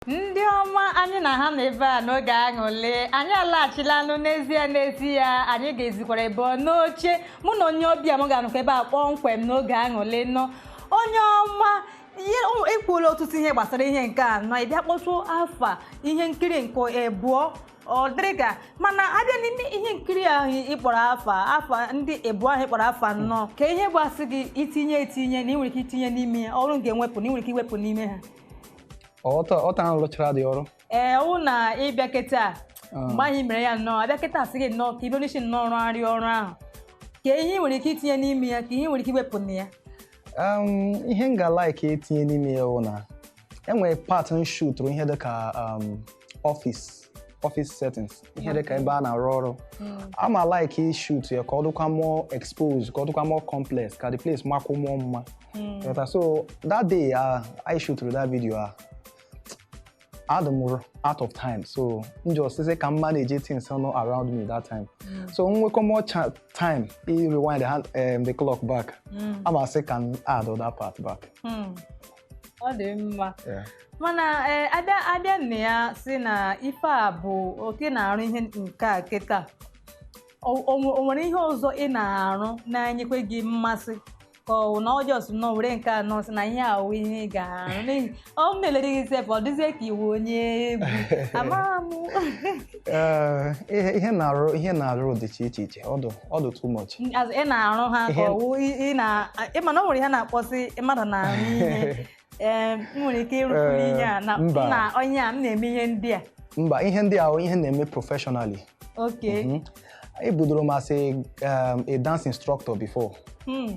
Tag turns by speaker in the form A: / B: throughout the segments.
A: ndị ọma anyị na ha nọ ebe a n'oge aṅụlị anyị alaghachilanụ n'ezie n'ezie anyị ga-ezikwara ebe ọ n'oche mụ na onye ọbịa m ga-anọkwa ebe a kpọmkwem n'oge aṅụlị nnọọ onye ọma i kwuola ọtụtụ ihe gbasara ihe nke a nnọọ ị bịa kpọtụ afa ihe nkiri nke ebụọ ọ dịrị gaa mana a bịa n'ime ihe nkiri ahụ ị kpọrọ afa afa ndị ebụọ ahụ ị kpọrọ afa nnọọ kee ihe gbasị gị itinye etinye na ị nwere ike itinye n'ime ya ọrụ m ga-ewepụ na ị nwere ike iwepụ n'ime ha
B: ọta ọta ahụ rụchara dị ọrụ ee ọ wụ
A: na ị bịa kịta mgbe anyị mere ya nnọọ a bịa kịta a sị gị nnọọ ka ibe n'isi nnọọ rụgharị ọrụ ahụ kee ihe ị nwere ike itinye n'ime ya kee ihe ị nwere ike iwepụ na ya
B: Um, ihe m ga-like itinye n'ime ya wụ na e nwere part m shootụrụ ihe dịka um, office office settings ihe dị ka ebe a na-arụ ọrụ ama like ishoot ya ka ọ dịkwa more exposed ka ọ dịkwa more complex ka the place makwuo more mma Ghọta? so that day ah, I shootụrụ that video ah, adị m r- out of time so m just sị ka m manage things nọ around me that time so m nwekwuo more cha- time i rewind the, hand, um, the clock back ama sị ka m add that part back ọ dị
A: mma Yeah. mana ee abịa abịa nne ya sị na ife a bụ okay ị na-arụ ihe nke a kịta o o nwe- o nwere ihe ọzọ ị na-arụ na-enyekwe gị mmasị ka ọ wụ na ị just nnọọ were nke a nnọọ sị na ihe a wụ ihe ị ga-arụ n'ihi ọ na-elere gị sef ọ dịzie ka ị wụ onye egwu a ma ama Eh, ihe
B: ihe na-arụ ihe na-arụ dịcha iche iche ọ dụ ọ dụ too much As ị na-arụ ha
A: ka Ihe- ọ wụ ị- ị na ị ma na o nwere ihe a na-akpọ sị mmadụ na-arụ ihe Ee, m nwere ike ịrụpụrụ Ee, ihe a na m mba. na onye a m na-eme ihe ndị a mba ihe ndị a
B: wụ ihe m na-eme professionally okay Mhm. ebudoro m as a, um, a dance instructor before Hmm.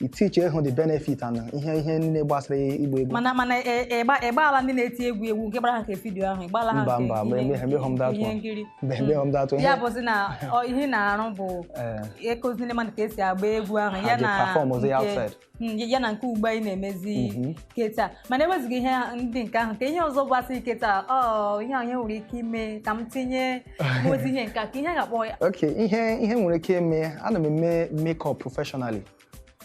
B: i teach ehụ the benefit and ihe ihe niile gbasara ịgba egwu mana mana ị- ị gba-
A: ị gbaala ndị na-eti egwu egwu nke gbara ha nke vidiyo ahụ ị gbaala ha Mba, nke mba, mgbe ihe- mgbe- mgbe home that ihe one. nkiri mgbe mgbe m datụ ihe ya bụzi na ọ- ihe ị na-arụ bụ ee, ịkụzi ndị mmadụ ka e si agba egwu ahụ Ha ya ji na perform ozi ya nke- outside. Mm, ya na nke ugbu a ị na-emezi Mhm. kịta mana e wezuga ihe ndị nke ahụ kee ihe ọzọ gbasara kịta ọ ihe ahụ ị nwere ike ime ka m tinye ma ozi ihe nke a kee ihe a ga-akpọ ya ok ihe ihe m nwere
B: ike ime ana m eme makeup professionally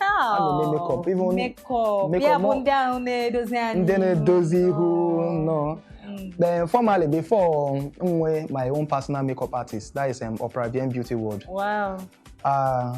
B: a na-eme
A: makeup, even makeup makeup, ya bụ no. ndị ahụ na-edozi anyị ndị na-edozi
B: ihu nọ Mm. then formerly before m nwee my own personal makeup artist that is um, Opera Vian Beauty World wow uh,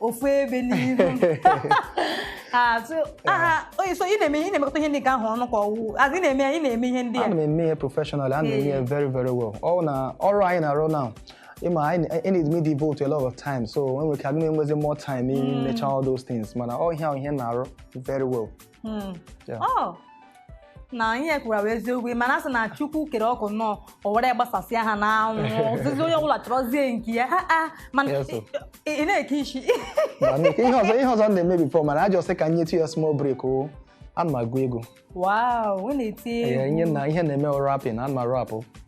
A: ofu ebe n'ihu Ah, so, aha, oyi, so ị na-eme ị na-emekọta ihe ndị nke ahụ ọnụ ka ọ wụ a sị na-eme ị na-eme ihe ndị a ana m eme ihe professionally
B: ana m eme ihe very very well ọ na ọrụ anyị na-arụ now ị ma anyị na- anyị need m ịdevote a lot of time so e nwere ike aga m enwezi more time imecha all those things mana ọ ihe a wụ ihe m na-arụ very well
A: Hmm. Yeah. Oh. na ihe i kwuru bụ eziokwu mana asị na chukwu kere ọkụ nnọọ o were gbasasịa ha n'anwụ ọ sịzi onye ọbụla chọrọzie nke ya Ah, ah, mana Yes, sir. ị ị na-eke isi Ma na- ihe
B: ọzọ ihe ọzọ m na-eme before mana m just sị ka m nyetụ ya small break o ana m agụ egwu wow ị
A: na-eti Ee, ihe egwu na ihe na-eme
B: rapping ana m arapụ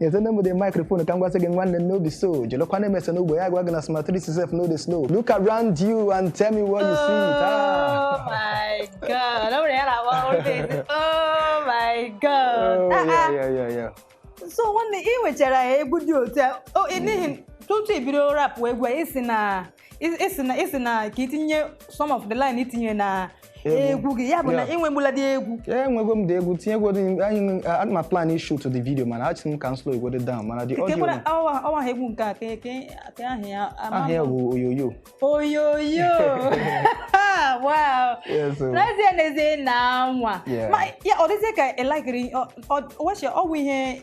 B: nyetene m the microphone ka m gwasị gị nwanne m no be so jolokwa na-emesa n'ugbo ya gwa gị na smart 3 sef no dey slow look around you and tell me what you see taa Oh my God. Ọ bụrụ ya na-agba
A: ọrụ na-esi, Oh my God. Oh, Ah, yeah, ah. yeah, yeah,
B: yeah. So
A: nwanne ị nwechara egwu dị otu a o- ị- n'ihi tutu i bido rap egwu a, ị si na ị sị na ị sị na ka i tinye some of the line i tinyere na egwu gị ya bụ na i nwegbula dị egwu enwego m dị egwu
B: tinyegwodo anyị ana m plan ị-shoot the video mana asị m ka m slow egwodo down mana the audio ọwa aha egwu
A: nke a ka aha ya aha ya bụ
B: oyoyo
A: oyoyo wow n'ezie n'ezie na nwa ọ dịzie ka elekere ọwụ ihe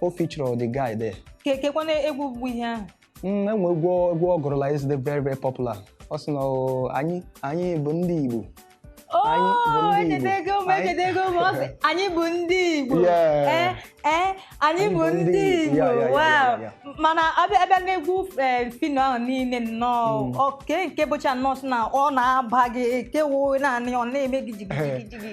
B: o feature the guy there Ke- kekwana
A: egwu bụ ihe ahụ Mm, e nwe
B: egwu egwu ọ gụrụla is the very very popular ọ sị na "Oo, anyị anyị bụ ndị Igbo Anyị bụ Oo,
A: ndị Igbo. echetego m Anyị- echetego m ọ sị anyị bụ ndị Igbo Yeah. ee ee anyị bụ ndị Igbo Yeah, yeah, yeah, wow yeah, yeah. mana a bịa a bịa n'egwu eh, Phyno ahụ niile nnọọ Mm. oke nke bụcha nnọọ sị na ọ na-aba gị kewo naanị ọ na-eme gị jigijigijigi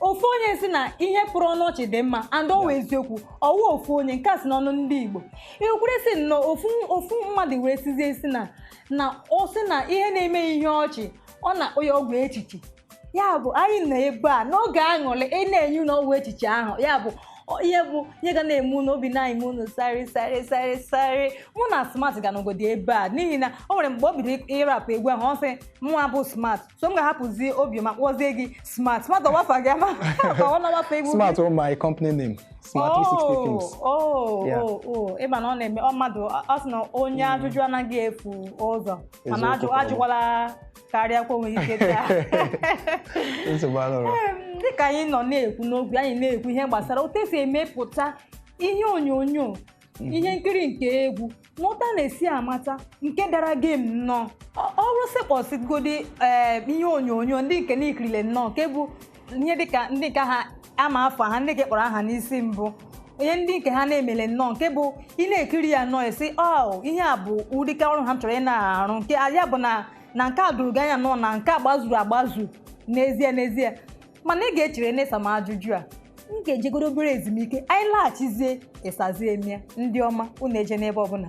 A: ofu onye sị na ihe pụrụ ọnụ ọchị dị mma and ọ wụ eziokwu ọ wụ ofu onye nke a si n'ọnụ ndị Igbo kwuru sị na ofu ofu mmadụ wee sịzie sị na na ọ sị na ihe na-eme ya ihe ọchị ọ na-akpọ ya ọgwụ echiche ya bụ anyị nọ ebe a n'oge aṅụrị na-enye unu ọgwụ echiche ahụ ya bụ ọ- ihe bụ ihe ga na-eme unu obi na-eme unu sarị sarị sarị sarị mụ na smart ga nọgodi ebe a n'ihi na o nwere mgbe o bidoro ịrapụ egwu ahụ ọ sị mụnwa bụ smart so m ga-ahapụzi Obiọma kpọzie gị smart smart ọ wụ afa gị ama ka ọ wụ afa egwu smart is my
B: company name smart 360 films oh Yeah. oh oh
A: ị ma na ọ na-eme ọ mmadụ ọ ọ sị na onye ajụjụ anaghị efu ụzọ mana Eziokwu ajụ kwuru. ajụkwala karịa kwa o nwe ike taa nsogbu anọrọ Em, dịka anyị nọ na-ekwu n'oge anyị na-ekwu ihe gbasara otu e si emepụta ihe onyonyo Mhm. ihe nkiri nke egwu na otu a na-esi amata nke dara gem nnọọ Ọ- ọrụ sị kpọsịgodi ee ihe onyonyo ndị nke i kirile nnọọ nke bụ ihe dịka ndị nke ha a ma afa ha ndị nke ị kpọrọ aha n'isi mbụ ihe ndị nke ha na-emele nnọọ nke bụ ị na-ekiri ya nnọọ ị sị ọ ihe a bụ ụdị aka ọrụ ahụ m chọrọ ị na-arụ nke ya bụ na na nke a doro gị anya nnọọ na nke a gbazuru agbazu n'ezie n'ezie mana ị ga-echere n'ịsa m ajụjụ a m ga-ejegodo obere ezumike anyị laghachizie ị sazie m ya ndị ọma unu ejena ebe ọbụla